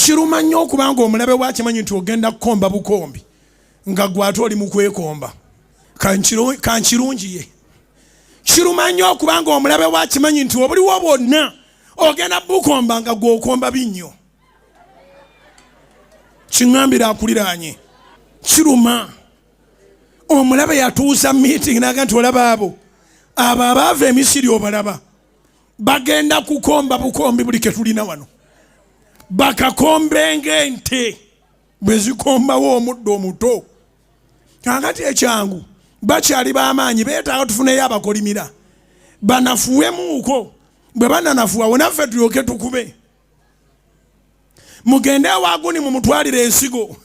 Kiruma nnyo okuba ng'omulabe we akimanyi nti ogenda kukomba bukombi nga gwe ate oli mu kwekomba kankirungiye. Kiruma nnyo okuba ng'omulabe we akimanyi nti obuliwo bwonna ogenda bukomba nga gwe okomba binnyo. Kiŋambira akuliraanye kiruma omulabe yatuuza meeting naga nti olaba abo abo abaava emisiri obalaba bagenda kukomba bukombi buli ketulina wano bakakombe ngaente bwe zikombawo omuddo omuto kakati ekyangu bakyali bamaanyi betaaga tufuneyo abakolimira banafuwemuuko bwe bananafuwa wonaffe tulyoke tukube mugende ewaguni mumutwalire ensigo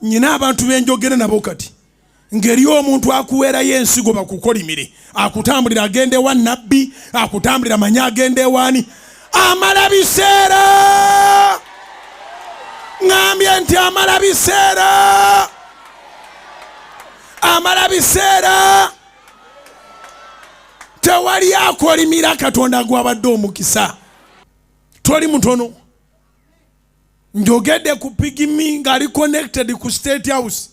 nyina abantu benjogere nabo kati ngeri omuntu akuweerayo ensigo bakukolimire akutambulira agenda ewa nabbi akutambulira manye agenda ewaani amala biseera ŋambye nti amala biseera amala biseera tewali akolimira katonda gwabadde omukisa toli mutono njogedde ku pigimi ngaali connected ku state house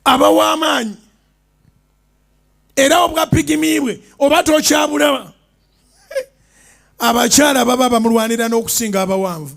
abawa amaanyi era obwa pigimi bwe oba tokyabulaba abakyala baba bamulwanira n'okusinga abawanvu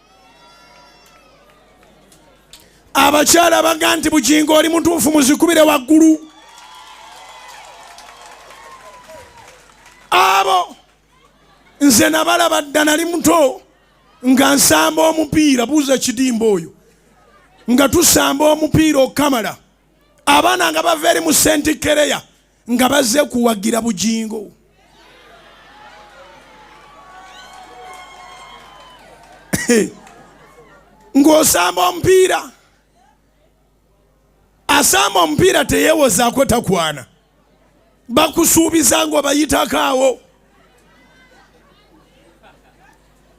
abakyala abaga nti bugingo oli mutuufu muzikubire waggulu abo nze nabalaba dda nali muto nga nsamba omupiira buuza kidimba oyo nga tusamba omupiira okukamala abaana nga bava eri mu sentikereya nga baze kuwagira bugingo ng'osamba omupiira asamba omupiira teyewozaako takwana bakusuubiza ng'obayitako awo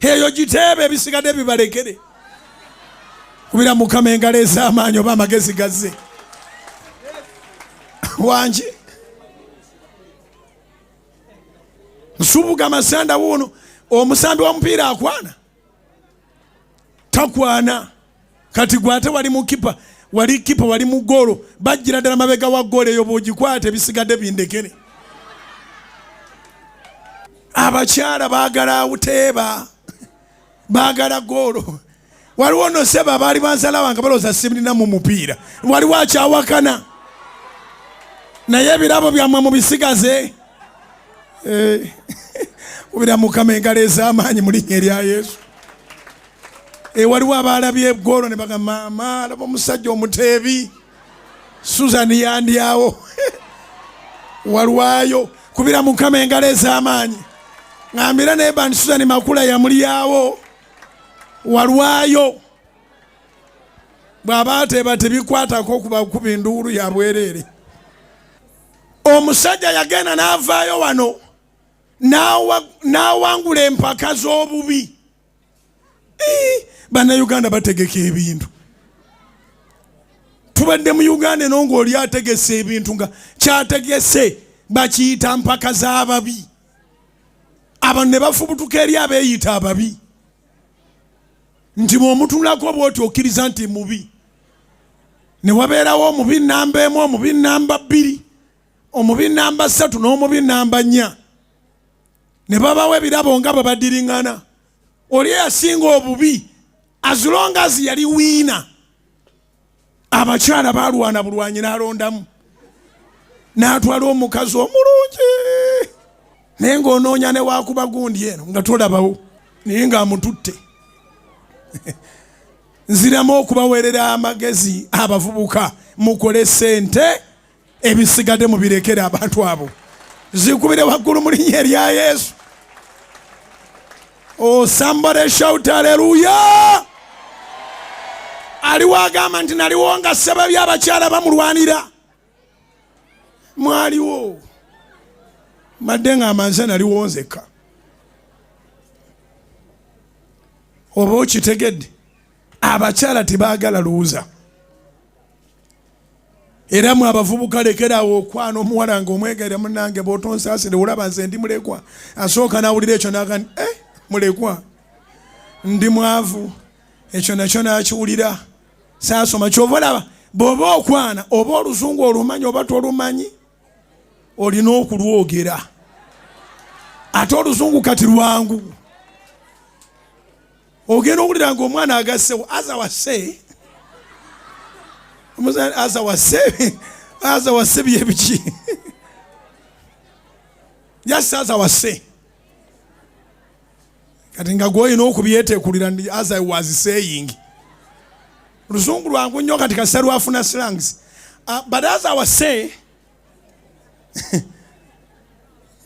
eyo giteebe ebisigadde bibalekere kubira mukama engalo ez'amaanyi oba amagezi gazze wangi nsubuga amasanda wuuno omusambi wa mupiira akwana takwana kati gwe ate wali mukipa wali kipa wali mu goolo bajjira ddala mabega wa goolo eyo bwogikwata ebisigadde bindekere abakyala baagala awuteeba baagala goolo waliwo no seba baali bansalawa nga balowooza simulina mu mupiira waliwo akyawakana naye ebirabo byammwe mubisigaze eh, ubira mukama engalo ez'amaanyi mu linnya erya yesu Eh, waliwo abaalabye egwolo ne baga maama alaba omusajja omuteebi susan yandyawo walwayo kubira mukama engalo ez'amaanyi ngambira naye bandi susan makula yamulyawo walwayo bw'aba ateeba tebikwatako kubakuba enduulu ya bwereere omusajja yagenda n'avaayo wano n'awangula empaka z'obubi bannayuganda bategeka ebintu tubadde mu uganda eno ngaoli ategese ebintu nga kyategese bakiyita mpaka z'ababi abantu ne bafubutuka eri abeeyita ababi nti mwomutunulako bwoti okkiriza nti mubi ne wabeerawo omubi namba emu omubi namba bbiri omubi namba ssatu n'omubi namba nnya ne babawo ebirabo nga bwe badiriŋŋana oli eyasinga obubi azulongazi yali wiina abakyala balwana bulwanyi n'alondamu n'atwala omukazi omulungi naye ng'onoonya ne wakuba gundi eno nga tolabawo naye ng'amututte nziramu okubaweerera amagezi abavubuka mukole sente ebisigade mubirekere abantu abo zikubire waggulu mu linnya erya yesu oh, somebody shout aleluya aliwo agamba nti naliwo nga ssababi abakyala bamulwanira mwaliwo madde nga amanze naliwo nzekka oba okitegedde abakyala tebagala luwuza era mwe abavubuka lekeraawo okwana omuwala nga omwegere munange bwotonsaasire olaba nze ndi mulekwa asooka nawulira ekyo naga ni e eh, mulekwa ndi mwavu ekyo nakyo nakiwulira saasoma kyova olaba bwoba okwana oba oluzungu olumanyi oba tolumanyi olina okulwogera ate oluzungu kati lwangu ogenda owulira nga omwana agassewo aza wase omuzani aza wase aza wase byebiki just aza wase kati nga gwoyina okubyetekulira ndi as i was saying luzungu lwangu nnyo kati kasita lwafuna slangs uh, but as i was saying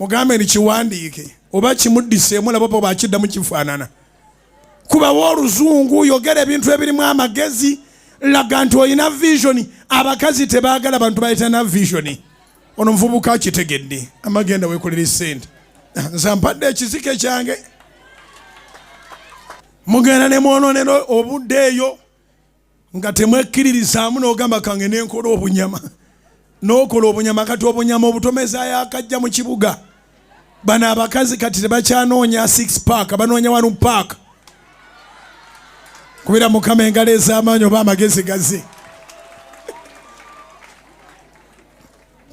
mugambe ni kiwandiike oba kimuddiseemu laba oba bakiddamu kifaanana kubawo oluzungu yogera ebintu ebirimu amagezi laga nti olina visioni abakazi tebaagala bantu bayitana visioni ono muvubuka akitegedde amagenda wekolera esente nze mpadde ekizike kyange mugenda ne mwononera obudde eyo nga temwekkiririzaamu n'ogamba kange nenkola obunyama n'okola obunyama kati obunyama obutomezayo akajja mu kibuga bano abakazi kati tebakyanoonya six park banoonya wanu park kubera mukama engalo ez'amaanyi oba amagezi gaze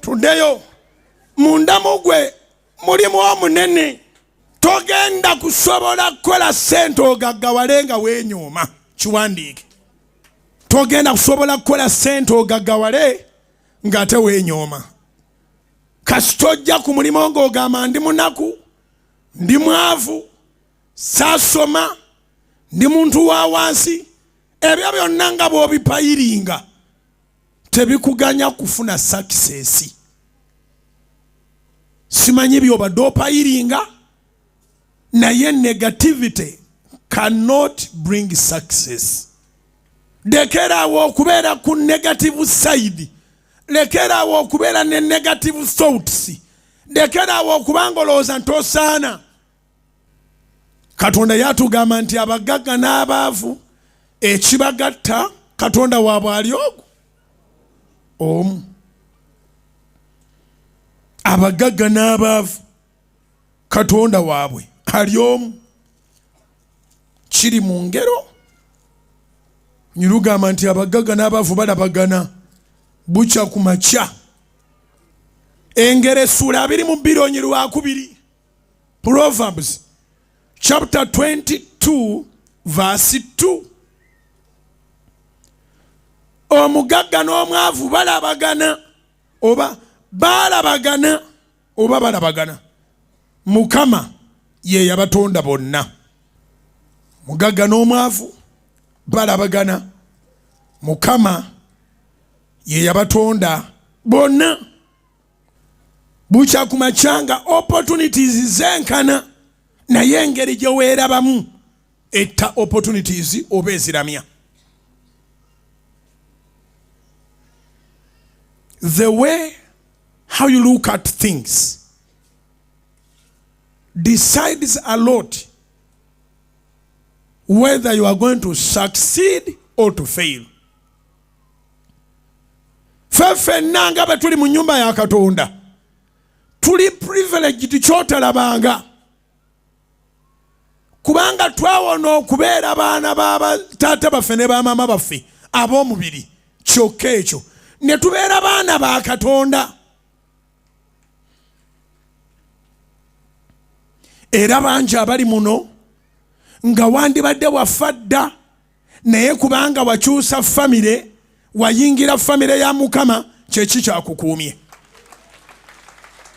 tuddeyo mundamu gwe mulimu omunene togenda kusobola kukola sente ogaggawale nga wenyooma kiwandiike togenda kusobola kukola sente ogaggawale nga ate wenyooma kasita ojja ku mulimu ngaogamba ndi munaku ndi mwavu saasoma ndi muntu wa wansi ebyo byonna nga bwobipayiringa tebikuganya kufuna sakisesi simanyi byobadde opayiringa naye negativity cannot bring success lekerawo okubeera ku negative side lekerawo okubeera ne negative thoughts lekerawo okubanga olowooza nti osaana katonda yatugamba nti abagagga n'abaavu ekibagatta katonda waabwe ali ogu omu abagagga n'abaavu katonda waabwe ali omu kiri mu ngero nyirugamba nti abagagga n'abaavu balabagana bukya ku makya engero essuula abiri mu bbiri onyi lwakubiri Proverbs chapter 22 verse 2 omugagga n'omwavu balabagana oba baalabagana oba balabagana mukama ye yabatonda bonna mugagga n'omwavu balabagana mukama ye yabatonda bonna bukya ku makya nga opportunities zenkana naye engeri gye weerabamu etta opportunities oba eziramya the way how you look at things decides a lot whether you are going to succeed or to fail fe fenna nga bwe tuli mu nyumba ya katonda tuli privileged kyotalabanga kubanga twawona okubeera baana ba taata baffe ne bamaama baffe ab'omubiri kyokka ekyo ne tubeera baana ba katonda era bangi abali muno nga wandibadde wafa dda naye kubanga wakyusa famire wayingira famire ya mukama kyeki kyakukuumye